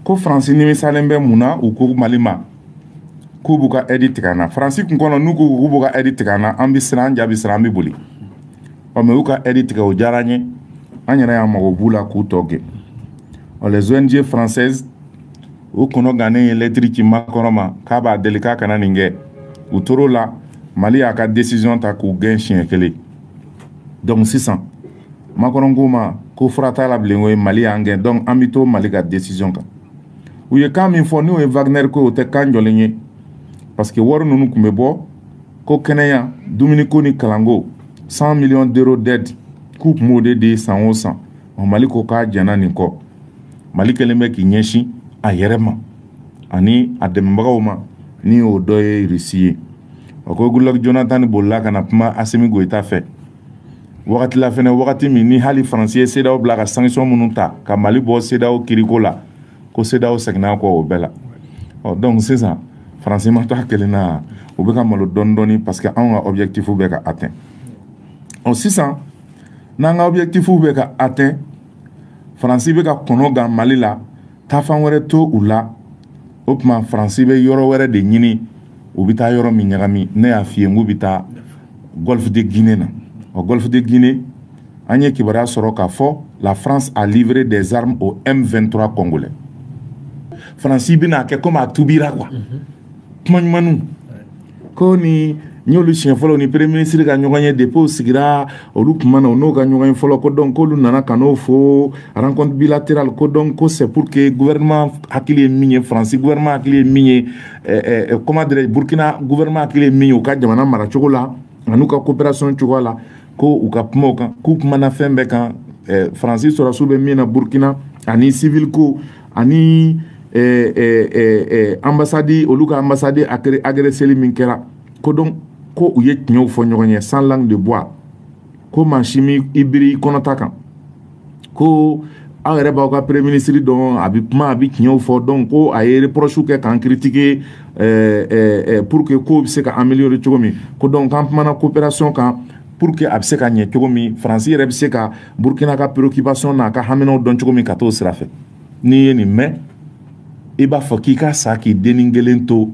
ko faransi nimisalen bɛ mun na u ko mali ma k'u b'u ka ɛdi tigɛ an na faransi kun kɔnɔ n'u ko k'u b'u ka ɛdi tigɛ an na an bɛ siran an ja bɛ siran an bɛ boli ɔ mɛ u ka ɛdi tigɛ o diyara an ye an yɛrɛ y'an mago b'u la k'u tɔ gɛn ɔ les ong françaises u kɔnɔ gannen ye lɛtiri ci makɔrɔn ma k'a b'a deli k'a kana nin kɛ u tor'o la mali y'a ka desiziyɔn ta k'u gɛn siɲɛ kelen donc sisan Makɔrɔn k'u ma ko fura t'a la bilen koyi Mali y'an gɛn donc an bɛ to Mali ka décision kan u ye kan min fɔ n'o ye Wagner ko ye o tɛ kan jɔlen ye parce que wari ninnu tun bɛ bɔ ko kɛnɛya dumuniko ni kalanko 100 millions d'euros d'aide k'u tun b'o de di san o san Mali ko k'a jɛnna nin kɔ Mali kɛlen bɛ k'i ɲɛsin a yɛrɛ ma ani a dɛmɛbagaw ma ni o dɔ ye Russie ye o ko goodluck Jonathan bolila ka na kuma Assimi Goita fɛ wagati la fɛnɛ wagati min ni hali faransi ye cedeao bila ka sanction minnu ta ka mali bɔ cedeao kiriko la ko cedeao seginna kɔ o bɛɛ la ɔ donc sisan faransi ma taa kelen na u bɛ ka malo dɔɔni dɔɔni parce que anw ka objectifu bɛ ka atteint ɔ sisan n'an ka objectifu bɛ ka atteint faransi bɛ ka kɔnɔ gan mali la taafan wɛrɛ tɛ u la o tuma faransi bɛ yɔrɔ wɛrɛ de ɲini u bɛ taa yɔrɔ min ɲagami ne y'a f'i ye n k'u bɛ taa golfe de guinée na ɔ golfe de guinée an ye kibaruya sɔrɔ k'a fɔ la france a livré des armes au m23 congolais faransi bɛna a kɛ komi a tubira quoi mm -hmm. kuma ɲumanw ko nin y'olu siɲɛ fɔlɔ ni premier ministre ka ɲɔgɔn ye depi o sigira olu tun ma na o n'o ka ɲɔgɔn ye fɔlɔ ko donc k'olu nana ka n'o fo rencontre bilatérale ko donc ko c'est pour que gouvernement hakili ye min ye faransi gouvernement hakili ye min ye comment dirais burkina gouvernement hakili ye min ye u ka jamana mara cogo la an'u ka coopération cogoya la ko u ka kuma o kan k'u kumana fɛn bɛɛ kan faransi sɔrɔdasiw bɛ min na burkina ani civil ko ani eh, eh, eh, eh, ambasadi olu ka ambasadi agreseli min kɛra ko donc ko u ye tiɲɛw fɔ ɲɔgɔn ye sans langue de bois ko maa si m'i biri i kɔnɔta kan ko aw yɛrɛ b'aw ka premier ministre dɔn a bɛ kuma a bɛ tiɲɛw fɔ donc ko a ye reproche kɛ k'an critiquer eh, eh, eh, pour que kow bɛ se ka améliorer cogo min ko donc k'an kumana coopération kan pour que a bɛ se ka ɲɛ cogo min faransi yɛrɛ bɛ se ka burkina ka préoccupation n'a ka haminaw dɔn cogo min ka t'o sira fɛ n'i ye nin mɛn i b'a fɔ k'i ka sa k'i denni kelen to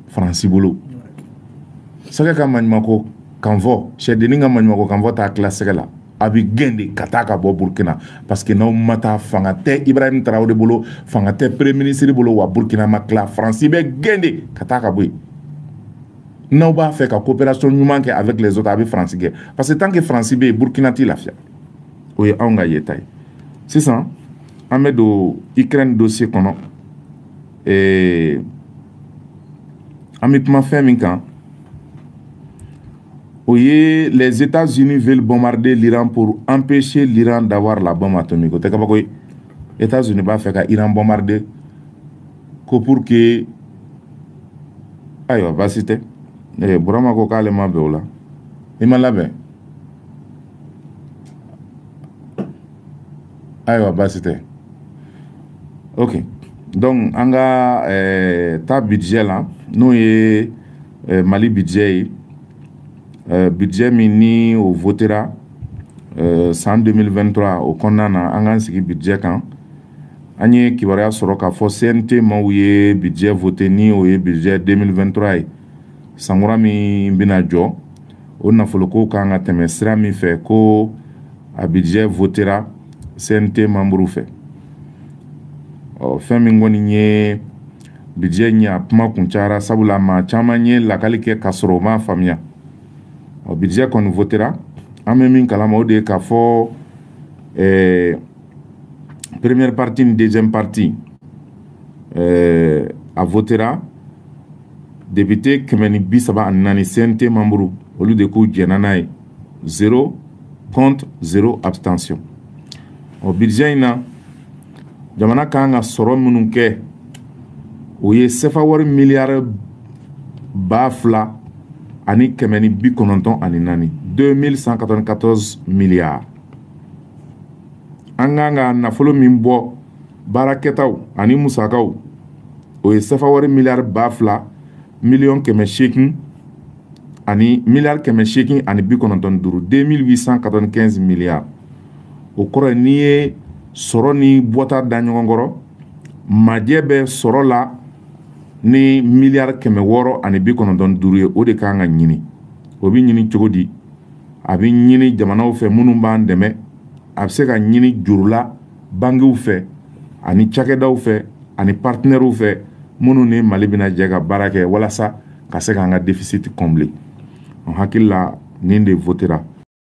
faransi bolo sɛgɛ ka maɲumako kanfɔ sɛdenni ka maɲumako kanfɔ t'a tila sɛgɛ la a bɛ gɛn de ka taa ka bɔ burkina parce que n'aw ma taa fanga tɛ ibrahim tarawele bolo fanga tɛ premier ministre bolo wa burkina ma tila faransi bɛ gɛn de ka taa ka bɔ yen n'aw b'a fɛ ka coopération ɲuman kɛ avec les autres a bɛ France gɛn parce que tant que France bɛ yen Burkina tɛ lafiya o ye anw ka yeta ye sisan an bɛ don Ukraine dossier kɔnɔ ee an bɛ kuma fɛn min kan o ye les États-Unis veulent bombarder l'Iran pour empêcher l'Iran d'avoir la bombe atomique o tɛ kabako ye États-Unis b'a fɛ ka Iran bombarder ko pour que ayiwa baasi tɛ eh, burama ko k'ale ma bɛn o la i ma labɛn ayiwa baasi tɛ ok donc an ka eh, taa budget la n'o ye eh, mali budget ye eh, budget min ni o votera eh, san 2023 o kɔnɔna na an k'an sigi budget kan an ye kibaruya sɔrɔ k'a fɔ cnt maw ye bijɛ vote ni o ye bijɛ 2023 ye sankura min bɛna jɔ o nafolokow kan ka tɛmɛ sira min fɛ ko a bijɛ votera cnt membres fɛ ɔ fɛn min kɔni ye bijɛ in ye a kuma kun cayara sabula maa caman ye lakali kɛ k'a sɔrɔ u m'a faamuya ɔ bijɛ kɔni votera an bɛ min kalama o de ye k'a fɔ ɛɛ Première partie ni deuxième partie ɛɛ a votera député kɛmɛ ni bi saba ani naani CNT membre olu de k'u jɛnna n'a ye zero contre zero abstention ɔ budget in na jamana kan ka sɔrɔ minnu kɛ o ye sefa wari miliyari ba fila ani kɛmɛ ni bi kɔnɔntɔn ani naani 2194 milliards an ka kan ka nafolo min bɔ baara kɛtaw ani musakaw o ye sefa wari miliyari ba fila miliyɔn kɛmɛ seegin ani miliyari kɛmɛ seegin ani bi kɔnɔntɔn ni duuru deux mille huit cent quatre-vingt-quinze miliyari o kɔrɔ n'i ye sɔrɔ ni bɔta da ɲɔgɔn kɔrɔ majɛ bɛ sɔrɔ la ni miliyari kɛmɛ wɔɔrɔ ani bi kɔnɔntɔn ni duuru ye o de kan ka ɲini o bɛ ɲini cogo di a bɛ ɲini jamanaw fɛ minnu b'an dɛmɛ a bɛ se ka ɲini juru la bankiw fɛ ani cakɛdaw fɛ ani partenaires fɛ minnu ni mali bɛna jɛ ka baara kɛ walasa ka se k'an ka defisiti kɔnbile n hakili la nin de votera